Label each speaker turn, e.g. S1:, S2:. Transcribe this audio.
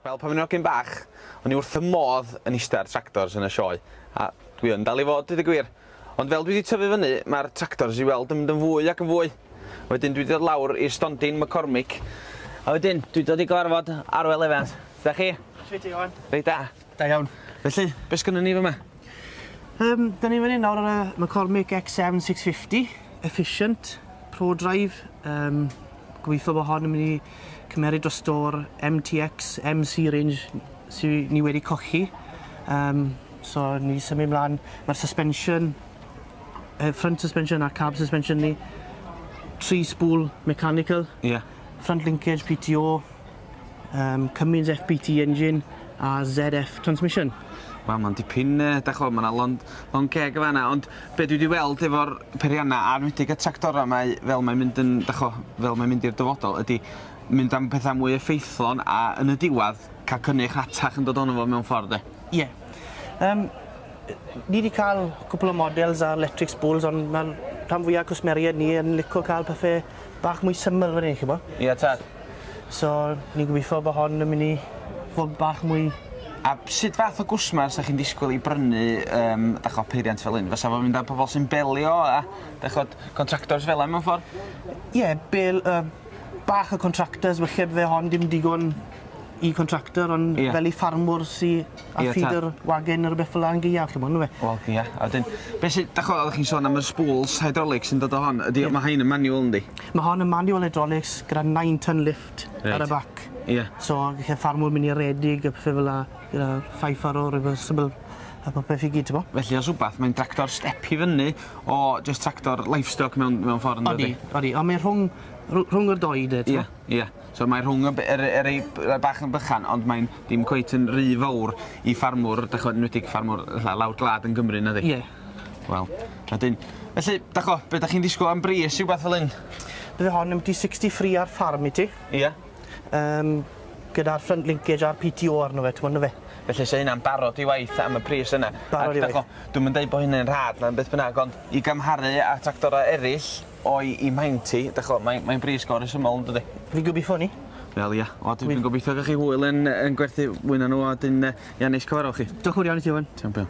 S1: Wel, pan o'n i'n hogyn bach, o'n i wrth fy modd yn eistedd ar tractors yn y sioe, a dwi yn dal i fod, dweud y gwir. Ond fel dwi wedi tyfu fyny, mae'r tractors i weld yn mynd yn fwy ac yn fwy. Wedyn dwi wedi dod lawr i'r stondin McCormick, a wedyn dwi wedi dod i gyfarfod Arwel Evans. Da chi? Shwt ti, Iwan? Reit
S2: da. Da iawn.
S1: Felly,
S2: be sgynnon
S1: ni fyma? Um,
S2: da ni fan hyn nawr ar y McCormick X7 650, efficient, pro drive. Um, gobeithio bod hon yn mynd i cymeryd dros o'r MTX MC range sy'n ni wedi cochi. Um, so ni symud mlaen, mae'r suspension, uh, front suspension a cab suspension ni, tri spool mechanical, yeah. front
S1: linkage,
S2: PTO, Yym Cummins FPT engine a ZF transmission. Wel ma'n dipyn
S1: yy dach ch'mod ma' 'na lond- lond ceg yn fan 'na ond be' dwi 'di weld efo'r peirianna a 'nwedig y tractora 'ma yy fel mae'n mynd yn dach ch'mo' fel mae'n mynd i'r dyfodol ydi mynd am petha mwy effeithlon a yn y diwadd ca'l cynnyrch rhatach yn dod ono fo mewn ffordd 'de? Ie. Yym
S2: ni 'di ca'l cwpwl o models ar 'lectric spools on' ma'r rhan fwya cwsmeriaid ni yn lico ca'l pethe bach mwy syml fan hyn, chi'bo'? Ie, tad.
S1: So,
S2: ni'n gobeithio bod hon yn mynd i fod bach mwy... A sut
S1: fath o gwsmer 'sa chi'n disgwyl i brynu, yym, dach ch'o', peiriant fel hyn? Fysa fo'n mynd ar pobl sy'n belio a, dach ch'od, contractors fel 'a mewn ffor? Ie, bel-
S2: yy bach o contractors, falle bydd hon dim digon i contractor ond... Ie. ...fel i ffarmwr sy A feeder wagon ne' rwbeth fel 'a yn gaeaf chi 'mod on'd yw e? Wel ie a 'dyn
S1: be' sy dach ch'mod oddach chi'n sôn am y spools hydraulics sy'n dod o hon ydi o ma' rhein yn manual yndi? Ma' hon yn manual
S2: hydraulics gyda nine ton lift ar y bac. Ie. So gelle
S1: ffarmwr
S2: myn' i redeg a pethe fel 'a gyda five furrow reversible a popeth i gyd t'mo'? Felly os wbath mae'n dractor
S1: step i fyny o jyst tractor livestock mewn mewn ffor yndydi? Odi odi on' mae rhwng
S2: rw- rhwng y dou 'de t'mo'? Ie ie. So mae rhwng
S1: y y y rei bach yn bychan ond mae'n dim cweit yn ry fowr i ffarmwr dych ch'mod enwedig ffarmwr fatha lawr gwlad yn Gymru nadi? Ie. Wel wedyn felly dych ch'mo' be' dych chi'n ddisgwl am bris rhywbeth fel 'yn? Bydd hon yn biti
S2: sixty three ar ffarm i ti. Ia.
S1: Yym
S2: gyda'r front linkage a'r Pee Tee Owe arno fe t'mod yndyfe? Felly 'se hynna'n barod
S1: i waith am y pris yna. Barod i waith. A dych ch'mo' dwi'm
S2: yn deud bo' hynny'n
S1: rhad na beth bynnag ond i gymharu â tractora eryll o'i i mhaent hi. Dych ch'mo' mae'n mae'n brys go resymol yndydi? Fi'n gobeithio hynny.
S2: Wel ia. O dwi
S1: dwi'n gobeithio ga'l chi hwyl yn yy yn gwerthu mwy na nhw a
S2: 'dyn
S1: yy
S2: ia
S1: neis cyfarfo
S2: chi.
S1: Diolch yn fowr iawn i ti
S2: Owen. Ti'n
S1: iawn pal.